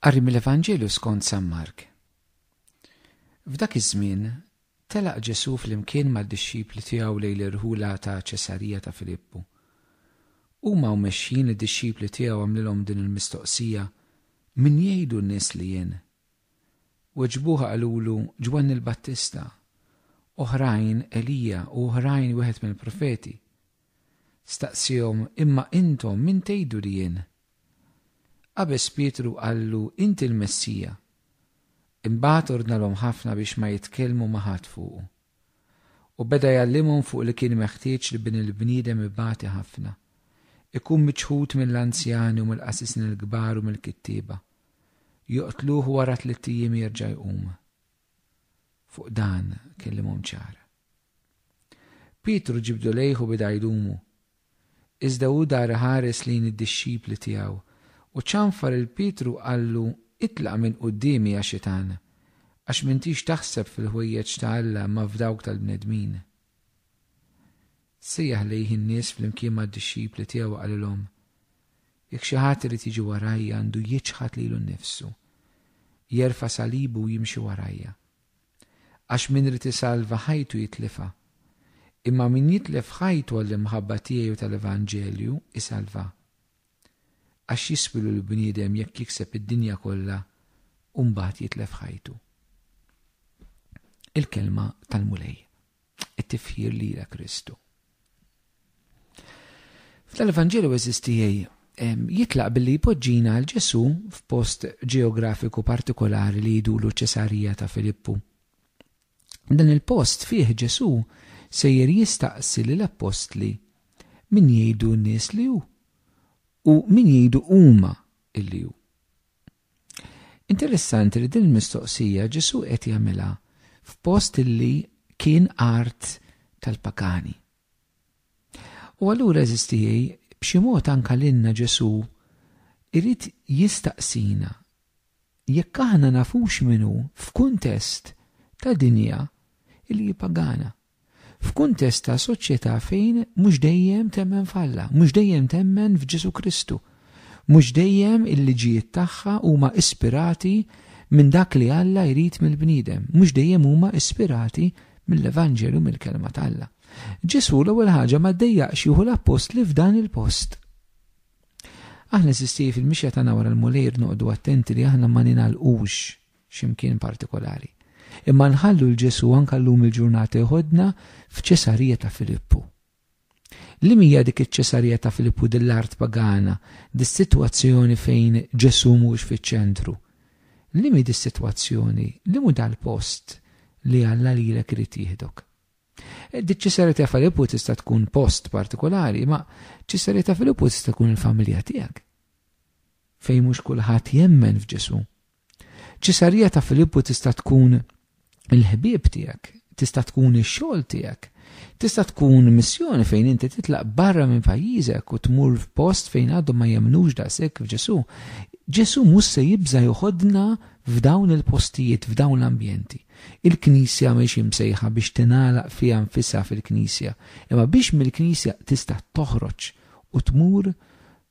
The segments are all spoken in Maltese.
Qari mill-Evanġelju skont San Mark. F'dak iż-żmien telaq Ġesù flimkien mad-dixxipli tiegħu lejn l-irħula ta' Ċesarija ta' Filippu. Huma u mexjin id-dixxipli tiegħu għamlilhom din il-mistoqsija, Min jgħidu n-nies li jien? Weġbuha qalulu Ġwanni l-Battista, oħrajn Elija u oħrajn wieħed mill-profeti. Staqsihom, Imma intom min tgħidu li jien? Qabeż Pietru qallu, Inti l-Messija. Imbagħad ordnalhom ħafna biex ma jitkellmu ma' ħadd fuqu. U beda jgħallimhom fuq li kien meħtieġ li Bin il-bniedem ibati ħafna, ikun miċħud mill-anzjani u mill-qasisin il-kbar u mill-kittieba, joqtluh u wara tlitt ijiem jerġa' jqum. Fuq dan kellimhom ċar. Pietru ġibdu lejh u beda jdumu. Iżda hu dar iħares lejn id-dixxipli tiegħu u ċanfar 'il Pietru u qallu, Itlaq minn quddiemi, ja Xitan, għax m'intix taħseb fil-ħwejjeġ ta' Alla imma f'dawk tal-bnedmin. Sejjaħ lejh in-nies flimkien mad-dixxipli tiegħu u qalilhom, Jekk xi ħadd irid jiġi warajja għandu jiċħad lilu nnifsu, jerfa' salibu u jimxi warajja. Għax min irid isalva ħajtu jitlifha, imma min jitlef ħajtu għall-imħabba tiegħi u tal-evanġelju isalvha. Għax jiswilu l-bniedem jekk jikseb id-dinja kollha u mbagħad jitlef ħajtu? Il-kelma tal-Mulej. it-tifħir lira Kristu. F'dan l-Evanġelju eżistijaj jitlaq billi jpoġġina għal Ġesu f'post ġeografiku partikolari li jidulu ċesarija ta' Filippu. Dan il-post fih Ġesu sejjer jistaqsi l appostli min jgħidu n-nies li hu u min jgħidu huma illi hu. Interessanti li din il-mistoqsija Ġesù qed jagħmilha f'post li kien art tal-pagani. U allura eżiż tiegħi, b'xi mod anke lilna Ġesù jrid jistaqsina jekk aħna nafux min hu f'kuntest ta' dinja li hi pagana. f'kuntest ta' soċjetà fejn mhux dejjem temmen f'Alla, mhux dejjem temmen f'Ġesù Kristu, mhux dejjem il-liġijiet tagħha huma ispirati minn dak li Alla jrid mill-bniedem, mhux dejjem huma ispirati mill-Evanġelju, mill-Kelma t'Alla. Ġesù l-ewwel ħaġa ma ddejjaqx jieħu l-appostli f'dan il-post. Aħna eżisti fil-mixja tagħna wara l-Mulej irid noqogħdu attenti li aħna ma ningħalqux xi mkien partikolari. Imma nħallu 'l Ġesù anke llum il-ġurnata jħoddna f'Ċesarija ta' Filippu. Liema hija dik iċ-Ċesarija ta' Filippu din l-art pagana, dis-sitwazzjoni fejn Ġesù mhuwiex fiċ-ċentru? Liema hi dis-sitwazzjoni, liem hu dal-post li Alla lilek irid jieħdok? Diċ-Ċesarija ta' Filippu tista' tkun post partikolari, ma Ċesarija ta' Filippu tista' tkun il-familja tiegħek. Fejn mhux kulħadd jemmen f'Ġesù. Ċesarija ta' Filippu tista' tkun il-ħbieb tiegħek, tista' tkun ix-xogħol tiegħek, tista' tkun missjoni fejn inti titlaq barra minn pajjiżek u tmur f'post fejn għadhom ma jemmnux daqshekk f'Ġesù. Ġesù mhux se jibża' joħodna f'dawn il-postijiet, f'dawn l-ambjenti. Il-Knisja mhix imsejħa biex tingħalaq fiha nfisha fil-Knisja, imma biex mill-Knisja tista' toħroġ u tmur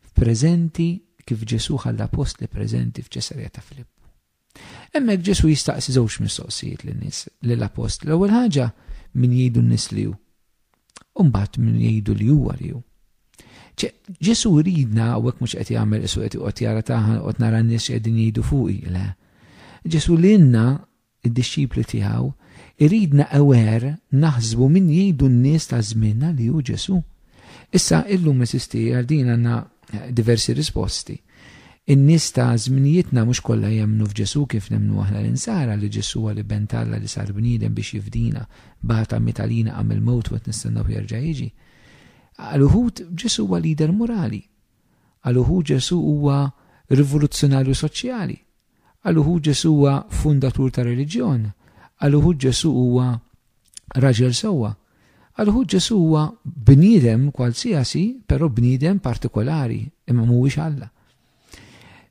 F'preżenti kif Ġesù ħa l-Appostli preżenti f'Ċesarija ta' Filippu. Hemmhekk Ġesù jistaqsi żewġ mistoqsijiet lin-nies, lill-Appostli. L-ewwel ħaġa, min jgħidu n-nies li hu? U mbagħad min jgħidu li huwa li hu? Ġesù jridna hawnhekk mhux qed jagħmel isu qed joqgħod jara taħan qed nara n-nies qegħdin jgħidu fuqi, le. Ġesù lilna id-dixxipli tiegħu, iridna aware naħsbu min jgħidu n-nies ta' żmienna li hu Ġesù. Issa, illum eżisti, għal din għandna diversi risposti. In-nies ta' żminijietna mhux kollha jemmnu f'Ġesù kif nemmnu aħna l-insara li Ġesù huwa l-Iben t'Alla li sar bniedem biex jifdina, bata, miet għalina, qam mill-mewt u qed nistennawh jerġa' jiġi. Għal uħud Ġesù huwa lider morali. Għal uħud Ġesù huwa rivoluzzjonarju soċjali. Għal uħud Ġesù huwa fundatur ta' reliġjon, għal uħud Ġesù huwa raġel sewwa, għal uħud Ġesù huwa bniedem kwalsiasi, però bniedem partikolari, imma mhuwiex Alla.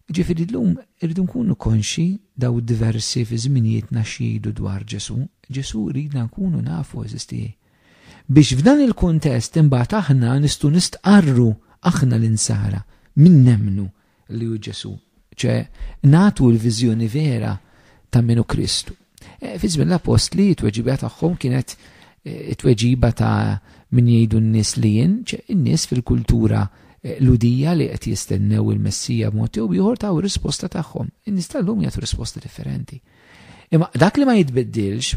Ġifieri llum irridu nkunu konxi daw diversi fi żminijietna x'jgħidu dwar Ġesù, Ġesù ridna nkunu nafu eżisti. Biex f'dan il-kuntest imbagħad aħna nistgħu nistqarru aħna l-insara min nemmnu li hu Ġesu, ċe natu l-viżjoni vera ta' minu Kristu. E, fi żmien l-apostli t-tweġiba tagħhom kienet e, it-tweġiba ta' min jgħidu n-nies li jien, in-nies fil-kultura eh, ludija li qed jistennew il-Messija b'mod jew ieħor taw risposta tagħhom. In-nies tal-lum jagħtu risposta differenti. Imma dak li ma jitbiddilx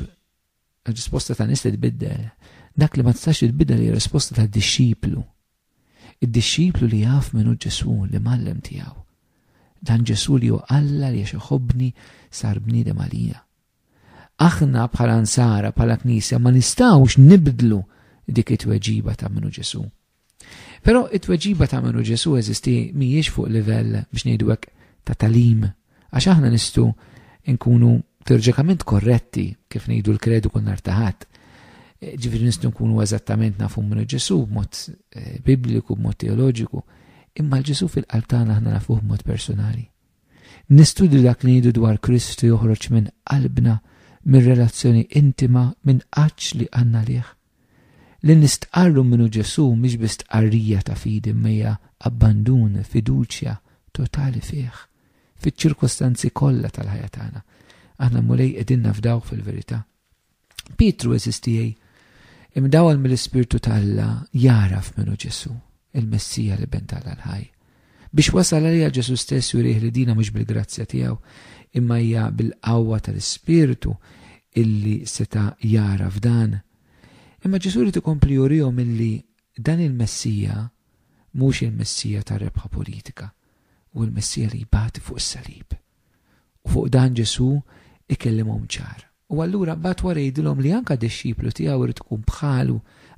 Ir-risposta ta' nies titbiddel. Dak li ma tistax titbiddel hija risposta ta' dixxiplu. Id-dixxiplu li jaf minn hu Ġesù li mallem tiegħu. Dan Ġesù li hu Alla li għax iħobbni sar bniedem għalija. Aħna bħala nsara, bħala knisja ma nistgħux nibdlu dik it-tweġiba ta' minn hu Ġesù. Però it-tweġiba ta' minnu Ġesu eżisti mhijiex fuq livell biex ngħidu hekk ta' talim, għax aħna nistu nkunu teorġikament korretti kif ngħidu l-kredu kull nar taħat. Ġifieri nistgħu nkunu eżattament nafu minnu Ġesu b'mod eh, bibliku, b'mod teoloġiku, imma l-Ġesu fil-qalb tagħna aħna nafuh b'mod personali. Nistudju dak li ngħidu dwar Kristu joħroġ minn qalbna mir-relazzjoni intima minn qaċ li għanna liħ. Li nistqarru min hu Ġesù mhix biss stqarrija ta' fidi imma hija abbandun, fiduċja totali fih, fiċ-ċirkostanzi kollha tal-ħajja tagħna. Aħna l-Mulej qegħdin nafdawh fil-verità. Pietru, għeżież tiegħi, imdawwal mill-Ispirtu t'Alla jagħraf min hu Ġesù, il-Messija l-Iben t'Alla l-ħaj. Biex wasal għaliha Ġesù stess jurih li dina mhux bil-grazzja tiegħu, imma hija bil-qawwa tal-Ispirtu illi seta' jagħraf dan. Imma Ġesù ried ikompli jurihom illi dan il-Messija mhux il-Messija tar-rebħa politika, huwa l-Messija li jbati fuq is-salib. U fuq dan Ġesù ikellimhom ċar. U allura mbagħad wara jgħidilhom li anke dixxiplu tiegħu jrid ikun bħalu.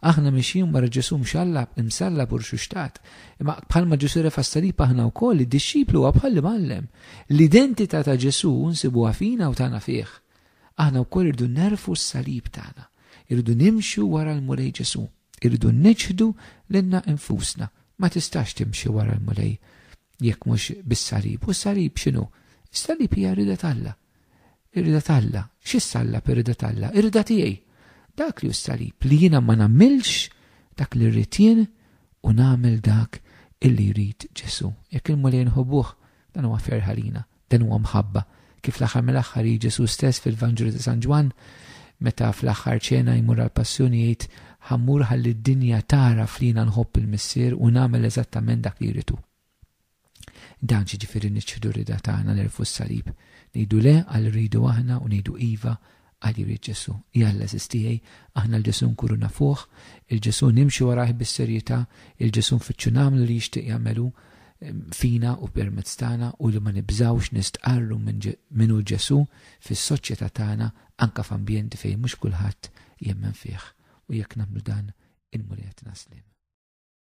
Aħna mixjin wara Ġesù mxallab, imsallab u rxuxtat. Imma bħalma Ġesù refa' s-salib aħna wkoll, id-dixxiplu huwa bħall-imgħallem. L-identità ta' Ġesù nsibuha fina u tagħna fih. Aħna wkoll irridu nerfgħu s-salib tagħna. Irridu nimxu wara l-Mulej Ġesù. Irridu niċħdu lilna infusna. Ma tistax timxi wara l-Mulej jekk mhux bis-salib. U s-salib x'inhu? Is-salib hija r-rieda t'Alla. Ir-rida t'Alla. X'issa Alla b'ir-rida t'Alla? Ir-rida tiegħi. Dak li hu s-salib, li jiena ma nagħmilx dak li rrid jien u nagħmel dak illi jrid Ġesù. Jekk il-Mulej inħobbuh, dan huwa ferħ għalina, dan huwa mħabba. Kif l-aħħar mill-aħħar jgħid Ġesù stess fil-Vanġelu ta' San Ġwann, meta fl-aħħar ċena jmur għall-Passjoni jgħid, Ħa mmur ħalli d-dinja tagħraf li jiena nħobb il-Missier u nagħmel eżattament dak li jrid hu. Dan ġiġifieri niċħdu rida tagħna nerfu s-salib, ngħidu le għal rridu aħna u ngħidu iva għal jrid Ġesu. Jalla żiż tiegħi, aħna l-Ġesu nkunu nafuh, il-Ġesu nimxu warajh bis-serjità, il-Ġesu nfittxu nagħmlu li jixtieq jagħmel hu ehm, fina u permezz tagħna u li ma nibżgħux nistqarru minn hu Ġesu fis-soċjetà tagħna anke f'ambjenti fejn mhux kulħadd jemmen fih. U jekk nagħmlu dan, il-Mulej qed naslim.